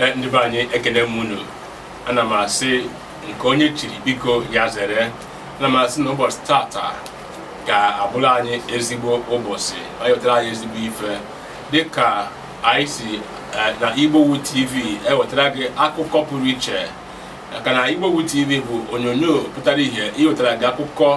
Eh, ndị be anyị ekene m unu ana m asị nke onye chiri biko ya zere ana m asị na ụbọchị tata ga-abụrụ anyị ezigbo ụbọchị o wetara anyị ezigbo ife dịka anyị si eh, na Igbowood TV ewetara gị akụkọ pụrụ iche maka na Igbowood TV bụ onyonyo pụtara ihe iwetara gị akụkọ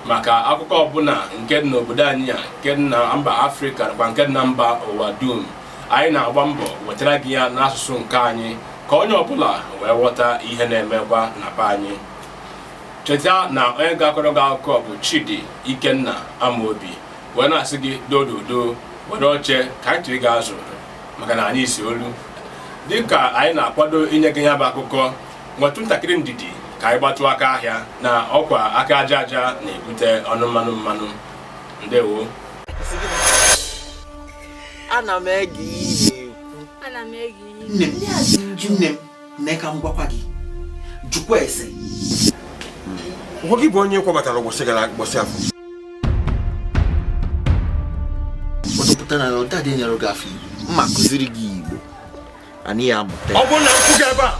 maka akụkọ ọbụla nke dị n'obodo anyị a nke dị na mba afrịka nakwa nke dị na mba ụwa dum anyị na-agba mbọ wetara gị ya n'asụsụ nke anyị ka onye ọbụla wee ghọta ihe na-emekwa na be anyị cheta na onye ga-akọrọ gị akụkọ bụ Chidi Ikenna Amaobi wee na-asị gị dododo were oche ka anyị tụrụ gị azụ maka na anyị si olu dịka anyị na-akwado inye gị ya bụ akụkọ nwetụ ntakịrị ndidi ka anyị gbatụ aka ahịa na ọkwa aka aja aja na-ebute ọnụ mmanụ mmanụ ndewo ana m ege ihe na-ekwu nne m nne m mee ka m gwakwa gị jụkwa ese ụgwọ gị bụ onye kwọbatara ụbọchị gara ụbọchị afọ pụta na ọda dị nyere gị afọ igbo mma kụziri gị igbo anyị ya amụta ọ bụrụ na m kwụ gị ebe a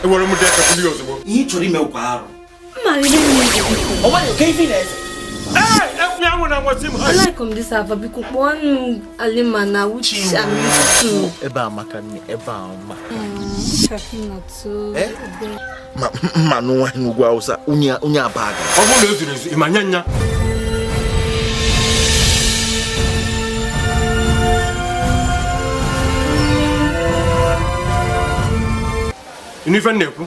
enwere m dee ozugbo ihe ị chọrọ ime ụkwa arụ Alaikum this Ava biko kpọọ nụ Alima na Uche Amitu. Ebe a maka nne ebe a mma. Ma nụ nwa n'ugwu Awụsa onye abaga. Ọ bụrụ na o zuru ezu, ị ma nya nya. Inu ife na-ekwu?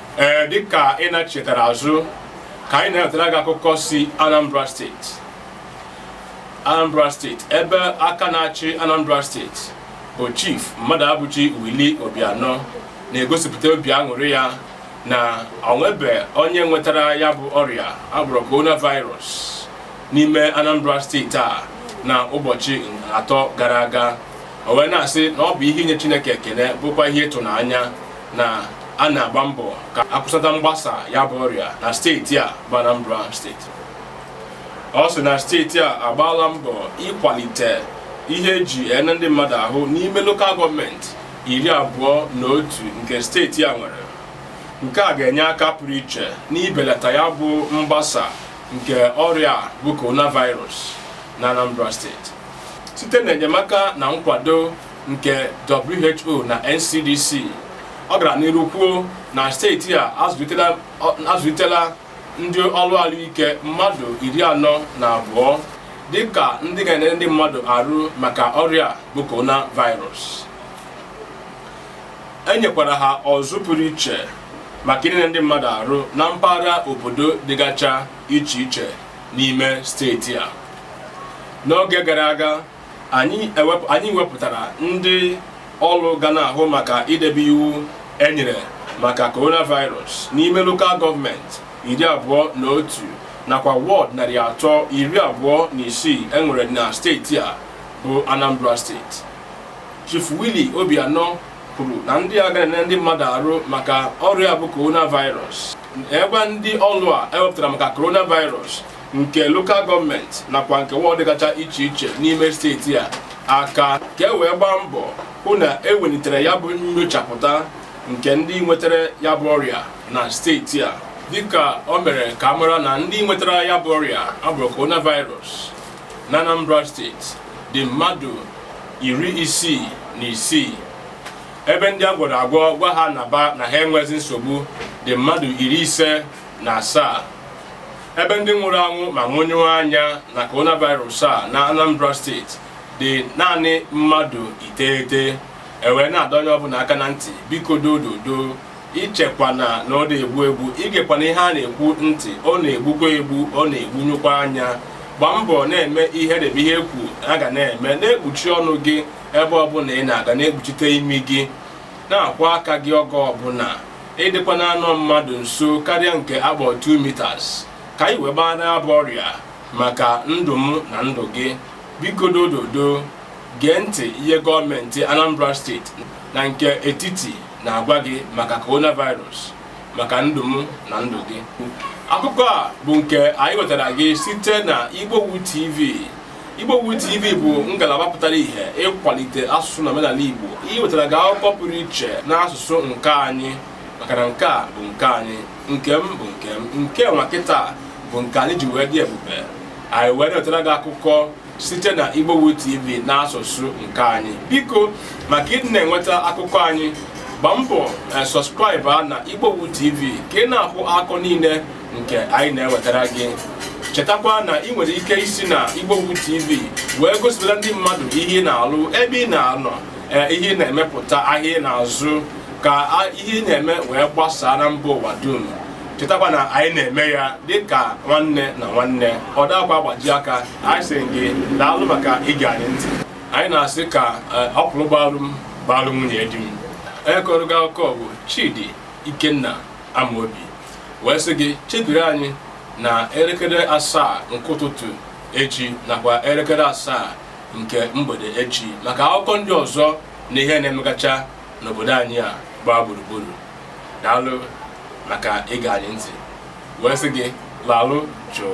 ee dịka ị na-chetara azụ ka anyị na-ewetara gị akụkọ si Anambra steeti Anambra steeti ebe aka na-achị Anambra steeti bụ Chief Mmadụabụchi Willie Obianọ na-egosipụta obi aṅụrị ya na o nwebe onye nwetara ya bụ ọrịa a kpọrọ coronavirus n'ime Anambra steeti a na ụbọchị atọ gara aga o wee na-asị na ọ bụ ihe inye Chineke ekene bụkwa ihe ịtụnanya na a na-agba mbọ ka akwụsata mgbasa ya bụ ọrịa na steeti a bụ Anambra steeti ọ sị na steeti a agbaala mbọ ịkwalite ihe eji ene ndị mmadụ ahụ n'ime lokal gọọmenti iri abụọ na otu nke steeti a nwere nke a ga-enye aka pụrụ iche n'ibelata ya bụ mgbasa nke ọrịa bụ coronavirus na Anambra steeti site na enyemaka na nkwado nke who na ncdc ọ gara n'iru kwuo na steeti a azụlitela ndị ọrụ ahụike mmadụ iri anọ na abụọ dịka ndị ga-ene ndị mmadụ arụ maka ọrịa bụ coronavirus e nyekwara ha ọzụ pụrụ iche maka ine ndị mmadụ arụ na mpaghara obodo dịgacha iche iche n'ime steeti a n'oge gara aga anyị wepụtara ndị ọrụ ga na-ahụ maka idebe iwu enyere maka coronavirus n'ime lokal gọọmenti iri abụọ na otu nakwa wọd narị atọ iri abụọ na isii enwere na steeti a bụ Anambra steeti Chief Willie Obianọ kwuru na ndị a ga-ene ndị mmadụ arụ maka ọrịa bụ coronavirus ebe ndị ọrụ a ewepụtara maka coronavirus nke lokal gọọmenti nakwa nke wọd dịgacha iche iche n'ime steeti a aka ka e wee gbaa mbọ hụ na ewelitere ya bụ nyochapụta nke ndị nwetara ya bụ ọrịa na steeti a dịka o mere ka a mara na ndị nwetara ya bụ ọrịa abụrụ coronavirus na Anambra steeti dị mmadụ iri isii na isii ebe ndị a gwọrọ agwọ gwa ha naba na ha enwezi nsogbu dị mmadụ iri ise na asaa ebe ndị nwụrụ anwụ ma nwụnyụọ anya na coronavirus a na Anambra steeti dị naanị mmadụ iteghete e wee na-adọ onye ọbụla aka na ntị biko dododo ichekwana na ọ na-egwu egwu igekwana ihe a na-ekwu ntị ọ na-egbukwa egbu ọ na-egbunyụkwa anya gbaa mbọ na-eme ihe debe ihe ekwu a ga na-eme na-ekpuchi ọnụ gị ebe ọbụla ị na-aga na-ekpuchite imi gị na-akwọ aka gị oge ọbụla ịdịkwana anọ mmadụ nso karịa nke a kpọrọ 2 meters ka anyị wee gbara ya bụ ọrịa maka ndụ m na ndụ gị biko dododo gee ntị ihe gọọmenti Anambra steeti na nke etiti na-agwa gị maka coronavirus maka ndụ m na ndụ gị akụkọ a bụ nke anyị wetara gị site na Igbowood TV Igbowood TV bụ ngalaba pụtara ihe ịkwalite asụsụ na omenala Igbo iwetara gị akụkọ pụrụ iche n'asụsụ nke anyị maka na nke a bụ nke anyị nke m bụ nke m nke nwa kịta bụ nke anyị ji wee dị ebube anyị wee na-ewetara gị akụkọ site na Igbowood TV n'asụsụ nke anyị biko maka ịdị na-enweta akụkọ anyị gbaa mbọ eh, subscribe na Igbowood TV ka ị na-ahụ akụkọ niile nke anyị na-ewetara gị chetakwa na ị nwere ike isi na Igbowood TV wee gosipụta ndị mmadụ ihe ị na-alụ ebe ị na-anọ eh, ihe ị na-emepụta ahịa ị na-azụ ka ihe ị na-eme wee gbasaa na mba ụwa dum chetakwa na anyị na-eme ya dịka nwanne na nwanne ọ dakwa agbaji aka anyị sị gị daalụ maka ige anyị ntị anyị na-asị ka eh, ọkwụrụ gbalụ m gbalụ nwunye di m onye kọrọ gị akụkọ bụ Chidi Ikenna Amobi wee sị gị chebiri anyị na elekere asaa nke ụtụtụ echi nakwa elekere asaa nke mgbede echi maka akụkọ ndị ọzọ na ihe na-emegacha n'obodo anyị a gbaa gburugburu daalụ maka ige anyị ntị wee sị gị lalụ jụụ